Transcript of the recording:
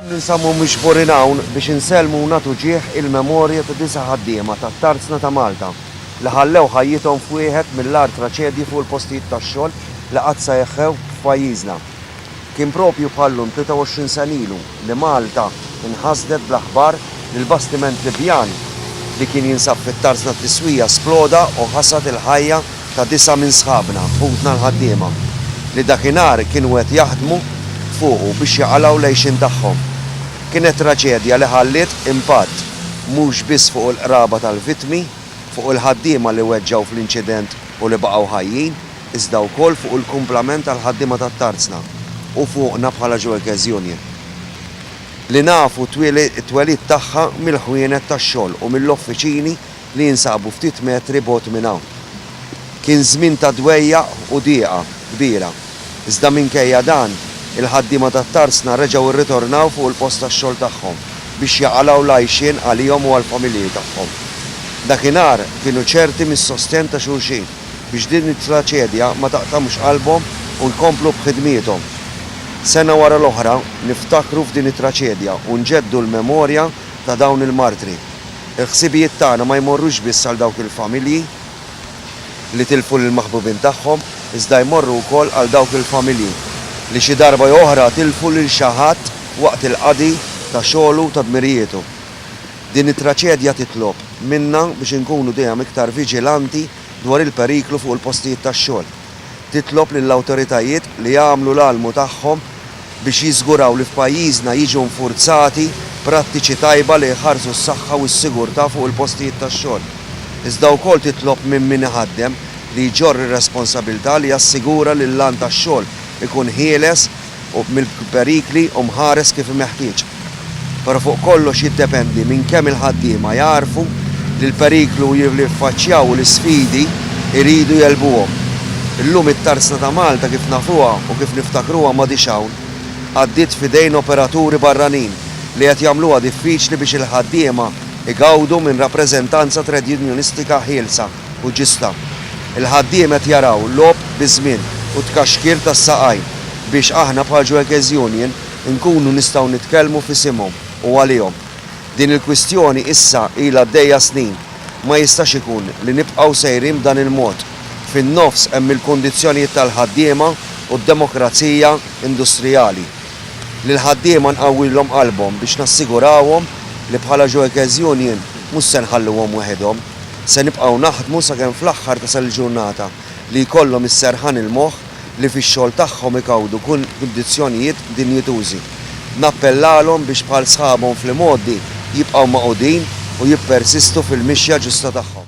Ninsabu miġburin hawn biex insellmu u nagħtu ġieħ il-memorja ta' disa' ħaddiema tat-Tarzna ta' Malta li ħallew ħajjithom f'wieħed mill-agħar traċedji fuq il-postijiet tax-xogħol li qatt seħħew f'pajjiżna. Kien proprju bħal-lum 23 sena ilu, li Malta nħasdet bl-aħbar li l-bastiment Libjan li kien jinsab fit-tarz tat-tiswija sploda u ħasad il-ħajja ta' disgħa minn sħabna, ħutna l-ħaddiema, li dakinhar kienu qed jaħdmu fuqu biex jaqalgħu l-għixien tagħhom. Kienet traċedja li ħalliet impatt mhux biss fuq il-qraba tal-vittmi, fuq il-ħaddiema li weġġgħu fl-inċident u li baqgħu ħajjin, iżda wkoll fuq il-kumplament tal-ħaddiema tat-Tarzna u fuqna bħala Joekes Union, li nafu t-twelid tagħha mill-ħwienet tax-xogħol u mill-offiċini li jinsabu ftit metri bogħod minn hawn. Kien żmien ta' dwejjaq u dieqa kbira, iżda minkejja dan, il-ħaddiema tat-Tarzna reġgħu rritornaw fuq il-post tax-xogħol tagħhom biex jaqalgħu l-għajxien għalihom u għall-familji tagħhom. Dakinhar kienu ċerti mis-sostenn ta' xulxin. biex din it-traċedja ma taqtamx qalbhom u jkomplu b'ħidmiethom. Sena wara l-oħra niftakru f'din it-traċedja u nġeddu l-memorja ta' dawn il-martri. Il-ħsibijiet tagħna ma jmorrux biss għal dawk il-familji li tilfu lill-maħbubin tagħhom, iżda jmorru wkoll għal dawk il-familji li xi darba jew oħra tilfu lil xi ħadd waqt il-qadi ta' xogħlu u ta' dmirijietu. Din it-traċedja titlob minna biex inkunu dejjem iktar viġilanti dwar il-periklu fuq il-postijiet tax-xogħol. Titlob lill-awtoritajiet li jagħmlu l-almu tagħhom biex jiżguraw li f'pajjiżna jiġu infurzati prattiċi tajba li jħarsu s-saħħa u s-sigurtà fuq il-postijiet tax-xogħol. Iżda wkoll titlob minn min iħaddem li jġorr ir-responsabilità li jassigura li l-għan tax-xogħol ikun ħieles, u mill-perikli u mħares kif meħtieġ. Però fuq kollox jiddependi minn kemm il-ħaddiema jagħrfu li l-periklu li jiffaċċjaw u l-isfidi jridu jegħlbuhom. Illum it-tarsna ta' Malta kif nafuha u kif niftakruha m'għadhiex hawn. Għaddiet f'idejn operaturi barranin li qed jagħmluha diffiċli biex il-ħaddiema jgawdu minn rappreżentanza tredjunjonistika ħielsa. u ġista. Il-ħaddiem qed jaraw logħob biż-żmien u tkaxkir tas-saqajn biex aħna bħal Juekez Union inkunu nistgħu nitkellmu f'isimhom u għalihom. Din il-kwistjoni issa ilha għaddejja snin. Ma jistax ikun li nibqgħu sejrin b'dan il-mod. Fin-nofs hemm il-kundizzjonijiet tal-ħaddiema u d-demokrazija industrijali. Lill-ħaddiema nqawwilhom qalbhom biex nassigurawhom li bħala Juekez Union mhux se nħalluhom weħidhom. Se nibqgħu naħdmu sakemm fl-aħħar tasal il-ġurnata li jkollhom is-serħan il-moħħ li fix-xogħol tagħhom igawdu kundizzjonijiet dinjitużi. Nappellalhom biex bħal sħabhom fl-imgħoddi jibqgħu magħqudin u jippersistu fil-mixja ġusta tagħhom.